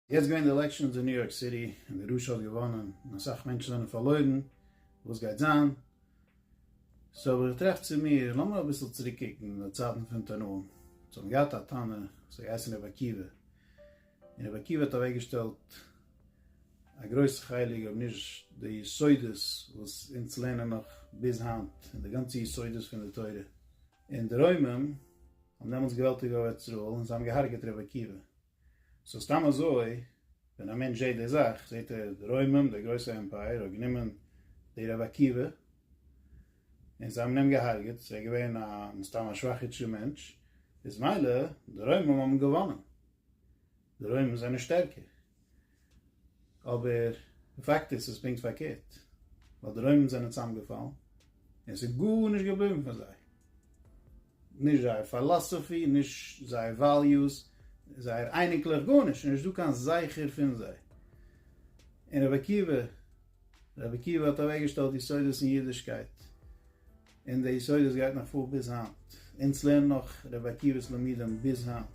יעצט געווען די עלעקשאנס אין ניו יארק סיטי און די רשע האט געוואנען און אסאך מענטשן זענען פארלוירן, וואס גייט זיין? סאו אבער איך טראכט צו מיר, לאמיר אביסל צוריק קוקן אין די צייטן פון תנאים, זיי האבן געהאט א תנא, ס'האט געהייסן רבי עקיבא, און רבי עקיבא האט אוועקגעשטעלט א גרויסע חלק אויב נישט די יסודות וואס אונז לערנען נאך ביז היינט און די גאנצע יסודות פון די תורה, און די רוימים האבן דעמאלטס געוועלטיגט בארץ ישראל און זיי האבן געהארגעט רבי עקיבא. סאו סתם אזוי ווען א מענטש זעהט די זאך זעהט ער די רוימען די גרויסע עמפייער האט גענומען די רבי עקיבא און זיי האבן אים געהארגעט ער איז געווען א מסתם א שוואכע אידשע מענטש איז מילא די רוימען האבן געוואנען די רוימען זענען שטערקער. אבער די פאקט איז ס'איז פונקט פארקערט, ווייל די רוימען זענען צוזאמגעפאלן און ס'איז גארנישט געבליבן פון זיי, נישט זייער פילאסאפי, נישט זייער וועליוס, זייער אייניקלעך, גארנישט, נישט דא קיין זכר פון זיי. און רבי עקיבא, רבי עקיבא האט אוועקגעשטעלט יסודות אין אידישקייט, און די יסודות גייט נאך פאר ביז היינט, אונז לערנען נאך רבי עקיבא'ס לימודים ביז היינט,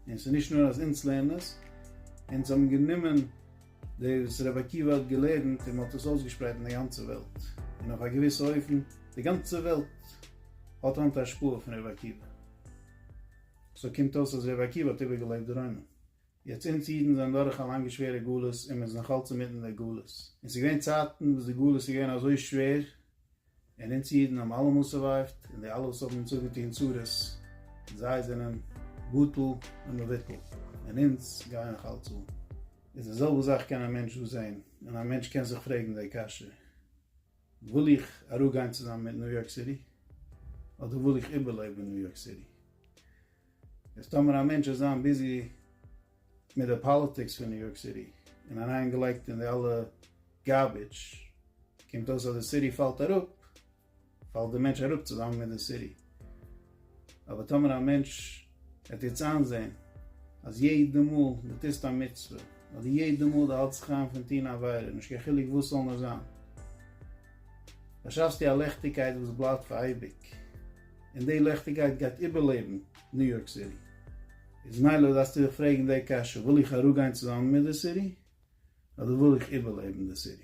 און ס'איז נישט נאר אז אונז לערנען עס, אונז האבן גענומען די וואס רבי עקיבא האט געלערנט און מ'האט עס אויסגעשפרייט אין די גאנצע וועלט, און אויף א געוויסע אופן די גאנצע וועלט האט היינט א השפעה פון רבי עקיבא, סאו קומט אויס אז רבי עקיבא האט איבערגעלעבט די רוימען, יעצט אונז אידן זענען דורך א לאנגע שווערע גלות און מ'איז נאכאלץ אינמיטן די גלות, און ס'איז געווען צייטן וואס די גלות איז געווען אזוי שווער און אונז אידן האבן אלעמאל סורווייווט, און די אלע וואס האבן אונז אפגעטון צרות, זיי זענען בטל ומבוטל, און אונז גייען נאך אלץ אן. איז די זעלבע זאך קען א מענטש דא זען, און א מענטש קען זיך פרעגן די קשיא, וויל איך אראפגיין צוזאמען מיט ניו יארק סיטי, אדער וויל איך איבערלעבן ניו יארק סיטי? איז טאמער א מענטש וועט זיין ביזי מיט די פאליטיקס פון ניו יארק סיטי און אריין געלייגט אין די אלע גארביטש קומט אויס אז די סיטי פאלט אראפ פאלט די מענטש אראפ צוזאמען מיט די סיטי אבער טאמער א מענטש וועט יעצט איינזעהן אז יעדע מאל די טוסט א מצוה אדער יעדע מאל די האלטסט זיך איין פון טוהן א עבירה נישט קיין חילוק וואס סזאל נאר זיין באשאפסטו א לעכטיגקייט וואס בלייבט פאר אייביג. און די לעכטיגייט גייט איבערלעבן ניו יארק סיטי. איז מילא דארפסטו דיך פרעגן די קשיא, וויל איך אראפגיין צוזאמען מיט די סיטי? אדער וויל איך איבערלעבן די סיטי?